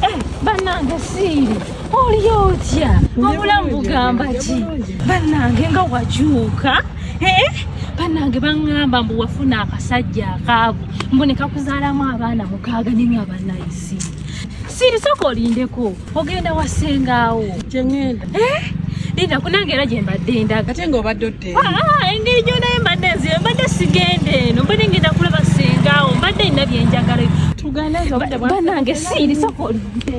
Eh, banange siiri oliyo otya wabula mugamba ki banange nga wakyuka eh, banange baŋŋamba mbu wafuna akasajja akaavu mbu ne kakuzaalamu abaana mukaaga ne nga banayisi siiri sooka olindeko ogenda wasengaawo kyengenda eh? linda kunange era gyembadde endaga ate nga obadde odde ah, ah, engeri gyonaye mbadde nzibe mbadde sigenda eno mbadde ngenda kulaba sengaawo mbadde nina byenjagala banange siiri soka oludde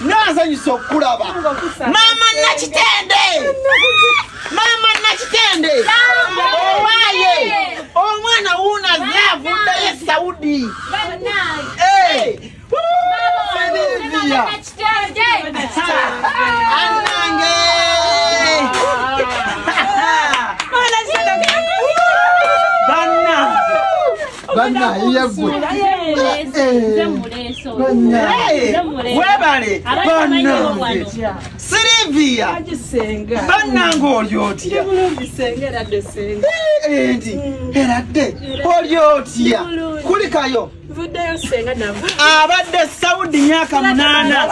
Nazanyisa okulaba maama Nakitende, maama Nakitende owaye omwana wuuno azze avuddeyo e Saudi. Eh. webale banange sirivia banange oli otya endi eradde oli otya kulikayo abadde saudi myaka munana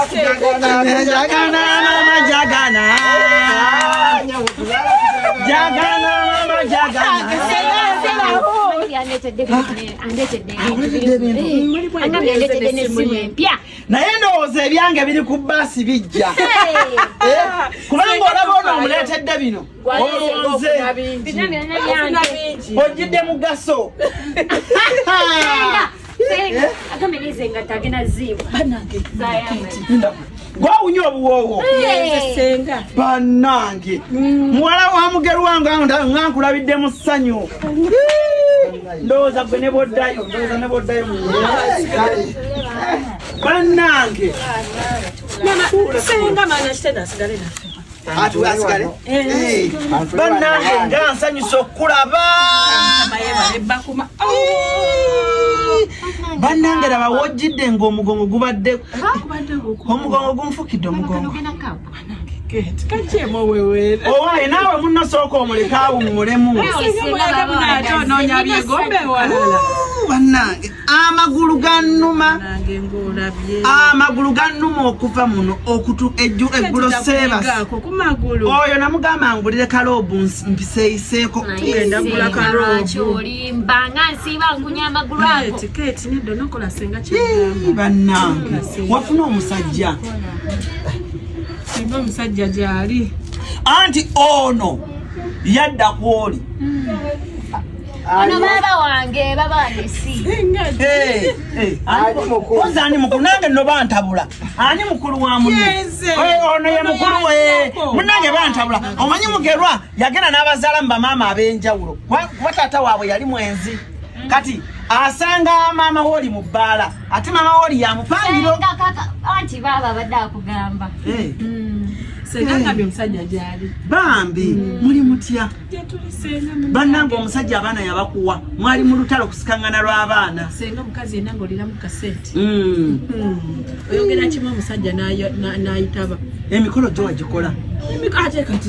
naye ndowooza ebyange biri ku baasi bijja eh, kubanga olaba ono omuleetedde bino olonze ojjidde mugaso gwawunya obuwoowo banange mm. muwala wa mugerwa nga nkulabidde mu ssanyu ndowooza gwe ne boddayo ndowooza ne boddayo banange senga mana kitedasigale nafe banange nga nsanyusa okukulaba banange laba wojjidde ngaomugongo gubadde omugongo gunfukidde omugongo owaye naawe munasooka omuleka awummulemu banange amagulu gannuma amagulu gannuma okuva muno okutu eggulo seebaskumagulu oyo namugamba ngulire kaloobu mpiseeyiseeko bannange wafuna omusajja omusajja gyali anti ono yadda kwoli hmm. Ono baba wange baba wange si. Eh, eh, ani mukulu? Oza ani mukulu nange no bantabula. Ani mukulu wa muni? Yeze. Eh, ono ye mukulu we. Munange bantabula. Omanyi mugerwa yagenda n'abazala mba mama abenjawulo. Kwa tata wabwe yali mwenzi. Mm. Kati asanga mama woli mu bbaala ate mama woli yamupangiro. Anti baba abadde akugamba. Eh. Mm. Senga ngabye omusajja gyali. Bambi mm. muli mutya? bannange omusajja abaana yabakuwa mwali mu lutalo kusikangana lw'abaana senga omukazi yenna ngaolira mu kaseti hmm. hmm. oyogera kimu omusajja n'ayitaba emikolo gyo wagikola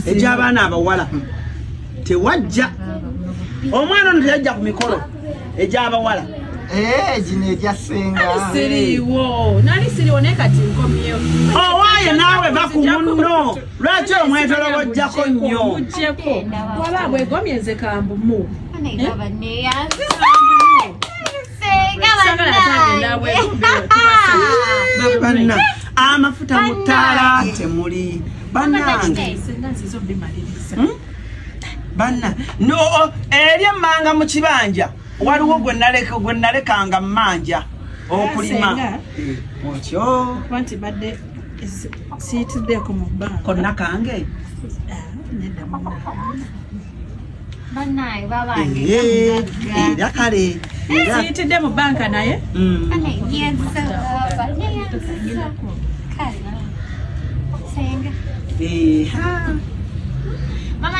egy'abaana abawala tewajja omwana ono teyajja ku mikolo egy'abawala eh, gino egyasengasiriwo nali siriwo naye kati nkomyewo owaaye oh, naawe va ku munno lwaki omwetolobojjako nnyo waba bwegomye nze kambu mu banna amafuta mu ttaala temuli banange hmm? banna no eri emmanga mu kibanja waliwo gwe naleka gwe nalekanga manja okulima okyo kwanti badde siyitidde ku mubba konna kange ah, nedda mu era kale siyitidde mu banka naye mama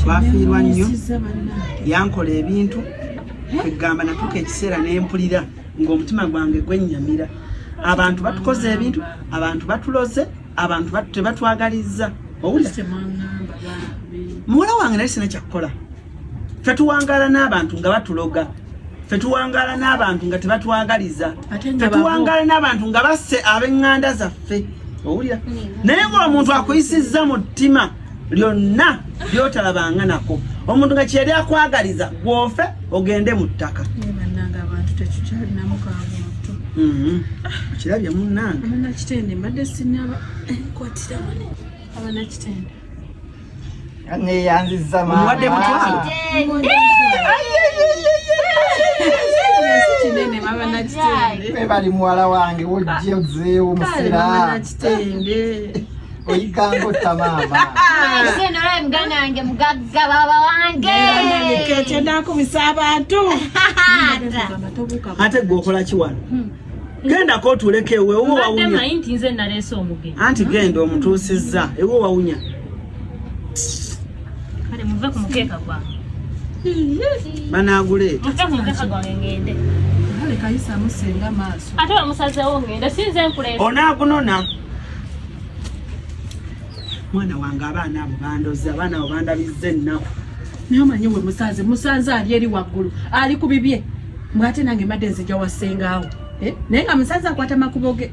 twafiirwa nnyo yankola ebintu kwegamba natuuka ekiseera nempulira ngaomutima gwange gwennyamira abantu batukoze ebintu abantu batuloze abantu tebatwagalizza owulira muwala wange naye sina kyakukola ffe tuwangaala n'abantu nga batuloga ffe tuwangaala n'abantu nga tebatwagaliza ffe tuwangaala n'abantu nga basse ab'eŋŋanda zaffe owulira mm. naye ng'omuntu akuyisizza mu ttima lyonna lyotalabanga nako omuntu nga kyeyali akwagaliza gwofe ogende mu ttaka mm-hmm. kirabye munange Neyanziza mama. Mwade mutwala. Kinene mama na kitende. Kwe bali mwala wange wojje ozeewo musira. Mama na kitende. Oyikango ta mama. Ise nora mgana wange mugagga baba wange. Nene kete ndako misaba tu. Ate gwokola kiwano. Hmm. genda kotuleka ewe ewo wawunya anti genda omutuusizza ewo wawunya banaguleeta onagunona mwana wange abaana abo bandoze abaana abo bandabizza ennaku naye omanyi we musanze musanze ali eri waggulu ali ku bibye Mwate nange mbadde nzija wa ssengaawo eh? naye nga musaza akwata makubo ge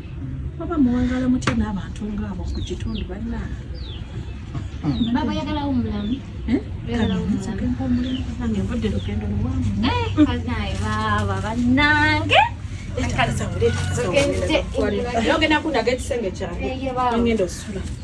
oba muwangala mutya n'abantu ngaabo ku kitundu balina babayagalawo mulamu eh? nvudde lugendo luwange eh, baaba bannange ogenda kundaga ekisenge kyange ngenda osula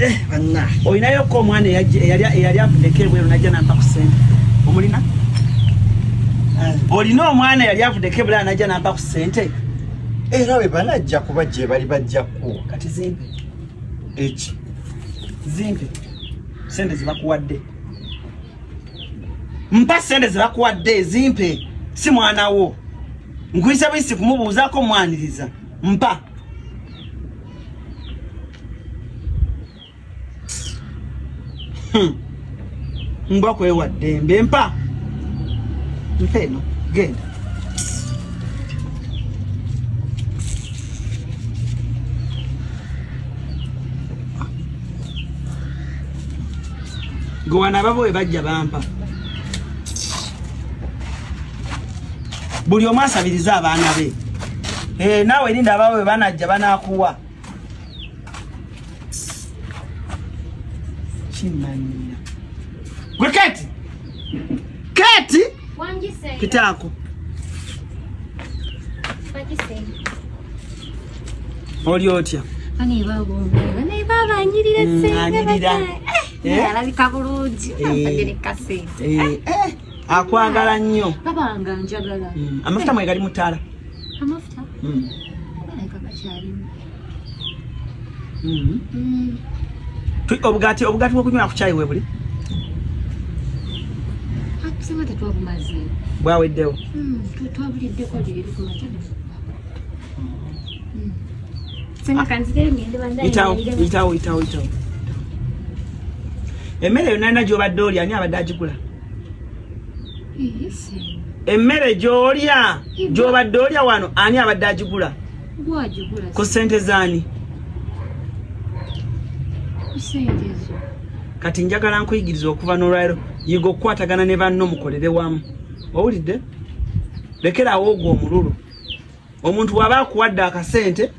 Eh, olinayo ko omwana eyali avudeko ebweru najja nampa ku sente omulina eh. olina omwana eyali avudeko ebulaa najja nampa ku sente era we banajja kuba gye bali bajja kuwa kati zimpe eki zimpe sente zebakuwadde mpa sente zebakuwadde zimpe si mwana wo nkuyisa buyisi kumubuuzaako mwaniriza mpa Hmm. mbwa kwewa ddembe mpa mpa eno genda gwe wanaababa we bajja bampa buli omu asabirize abaana be eh, naawe erinda abaawe we banajja banakuwa kimanyira gwe keti keti kitaako oli otya anyirira alabika bulungi akwagala nnyo babanga njagala mm. amafuta mwe gali mutala amafuta mm. mm. mm. obugati obugati bwokunywa ku chai webuli tusema tetwabumaze bwaweddewo mm. twabuliddeko leero itawo itawo itawo emmere yonna yonna gyobadde oli ani abadde agigula emmere gyolya gyobadde olya wano ani abadde agigula ku sente zaani kati njagala nkuyigiriza okuva nolwaliro yiga okukwatagana ne banno mukolere wamu owulidde lekeraawo ogwo omululu omuntu waba akuwadde akasente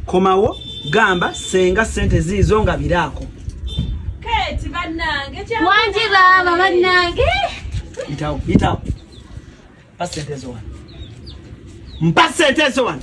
komawo gamba senga sente ziizo nga biraako wangi baaba bannange itawo itawo mpa sente ezo wano mpa sente ezo wano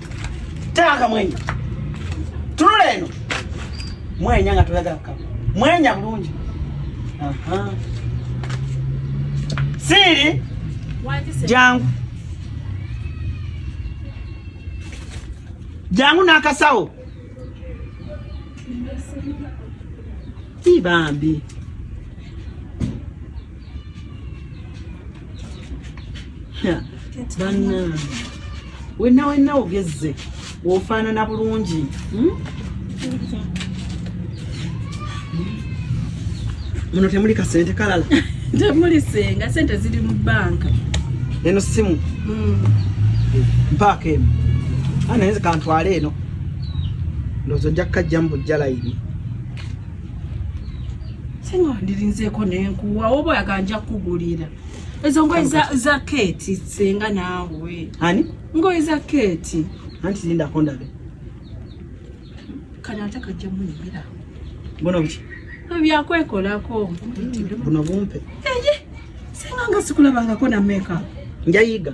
Tanga mwenya. Tunula eno. Mwenya nga tulaga kama. Mwenya bulungi. Aha. Siri. Jangu. Jangu n'akasawo. Ibambi. banange wenna wenna ogezze wofaanana bulungi hmm? muno temuli kasente kalala temuli senga sente ziri mu banka eno simu hmm. mpaaka emu anaye ah, kantwale eno ndowooza ojja kukajjamu bujja layini senga ndirinzeko nenkuwa oba oyagala nja kukugulira ezo ngoye za keti senga naawe ani ngoye za keti anti zindako ndabe kano ate kajja munyumira bona buki byakwekolako buno bumpe eye senga nga sikulabangako na meka njayiga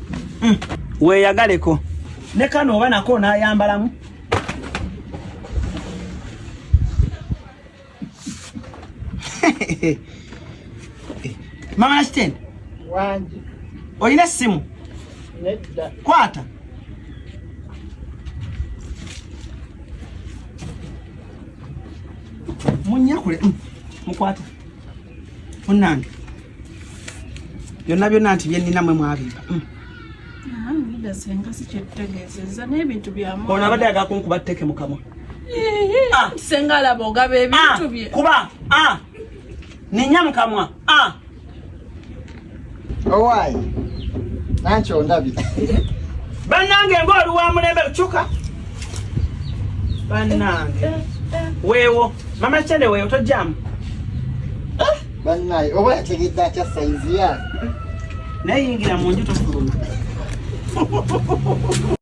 mm. weyagaleko ne kano oba nako nayambalamu mama nasitende wangi olina essimu nedda kwata munyakule mm. mukwata munnange byonna byonna nti byennina mwe mwabimba mm. ono abadde agakunkuba tteke mukamwa ah. senga alaba ogaba ebintu ah. bye kuba ah. ninya mukamwa Owaayi, nanki ondabye. Bannange ng'oli wa mulembe lucuka. Bannange. Weewo, mama Chende weewo tojjamu. Bannaaye, oba yategedde atya sayizi ya? Naye yingira mu nju tofuluma.